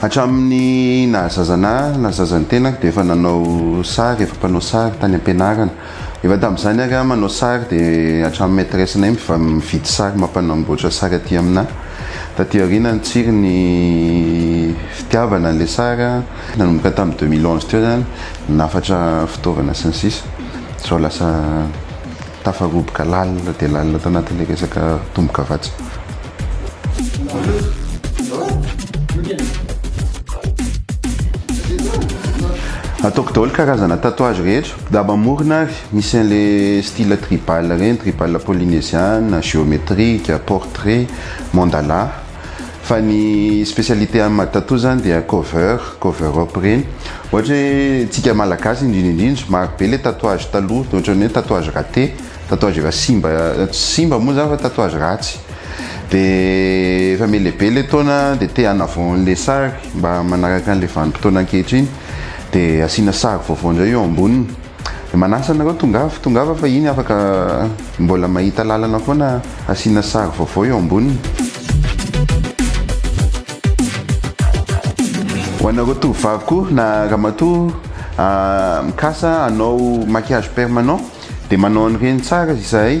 Hatramin'ny naha zazana ahy, na zazan'ny tenako dia efa nanao sary, efa mpanao sary tany am-pianarana. Efa tamin'izany ary aho manao sary dia hatramin'ny maîtresse-nay miva- mividy sary mampanamboatra sary aty aminà. Taty aoriana nitsiry ny fitiavana an'ilay sary aho, nanomboka tamin'ny deux mille onze teo izany, nahafatra fitaovana sy ny sisa, sao lasa. Tafaroboka lalina dia lalina tanatin'ilay resaka tombo-kavatsy. Ataoko daholo karazana tatouage rehetra. Daba amorona ary misy an'ilay style tribal ireny, tribal polynesian, géométrique, portrait, mandala. Fa ny specialité any Madtatou zany dia cover, cover up reny. Ohatra hoe tsika malagasy indrindra indrindra, maro be le tatouage taloha, de ohatran'ny hoe tatouage raté, tatouage efa simba, tsy simba moa zany fa tatouage ratsy. De efa melebe le taona de te en avant le sary mba manaraka an'le vanim-potoana ankehitriny de asiana sary vaovao indray eo amboniny. Manasa anareo tongava tongava fa iny afaka mbola mahita lalana foana asiana sary vaovao eo amboniny. Ho anareo tovovavy koa na ramatoa mikasa hanao maquillage permanent dia manao an'ireny tsara izahay.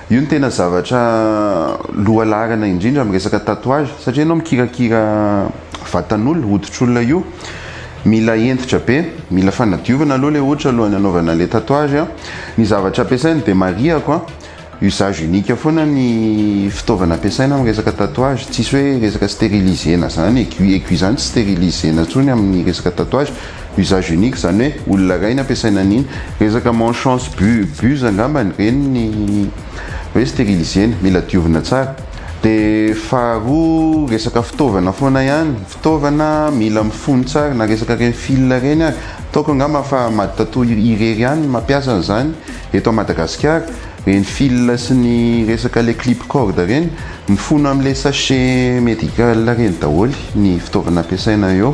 Io no tena zavatra lohalaharana indrindra amin'ny resaka tatouage satria ianao mikirakira vatan'olona, hoditr'olona io, mila hentitra be, mila fanadiovana aloha ilay hoditra alohan'ny hanaovana ilay tatouage. Ny zavatra ampiasaina dia marihako an, usage unique foana ny fitaovana ampiasaina amin'ny resaka tatouage, tsisy hoe resaka sterilisena izany, aiguille, aiguille izany tsy sterilisena intsony amin'ny resaka tatouage Usage unique zany hoe olona iray no ampiasaina an'iny. Resaka manchance bu buse angambany ireny ny hoe steriliser-na, mila diovina tsara. Dia faharoa resaka fitaovana foana ihany, fitaovana mila mifono tsara na resaka ireny fil ireny ary. Ataoko angamba fa Maditatoa irery ihany no mampiasa an'izany eto à Madagasikara. Ireny fil sy ny resaka le clip corde ireny, mifono amin'ilay sachet medical ireny daholo ny fitaovana ampiasaina eo.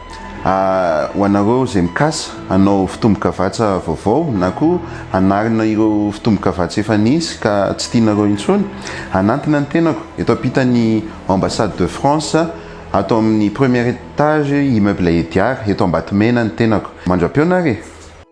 Ho anareo izay mikasa hanao fitombin-kavatsa vaovao na koa hanarina ireo fitombin-kavatsa efa nisy ka tsy tianareo intsony, hanantona ny tenako, eto ampitan'ny Ambassade de France, ato amin'ny premier étage Immeuble Ediard, eto Ambatomena ny tenako. Mandra-peo nareo e!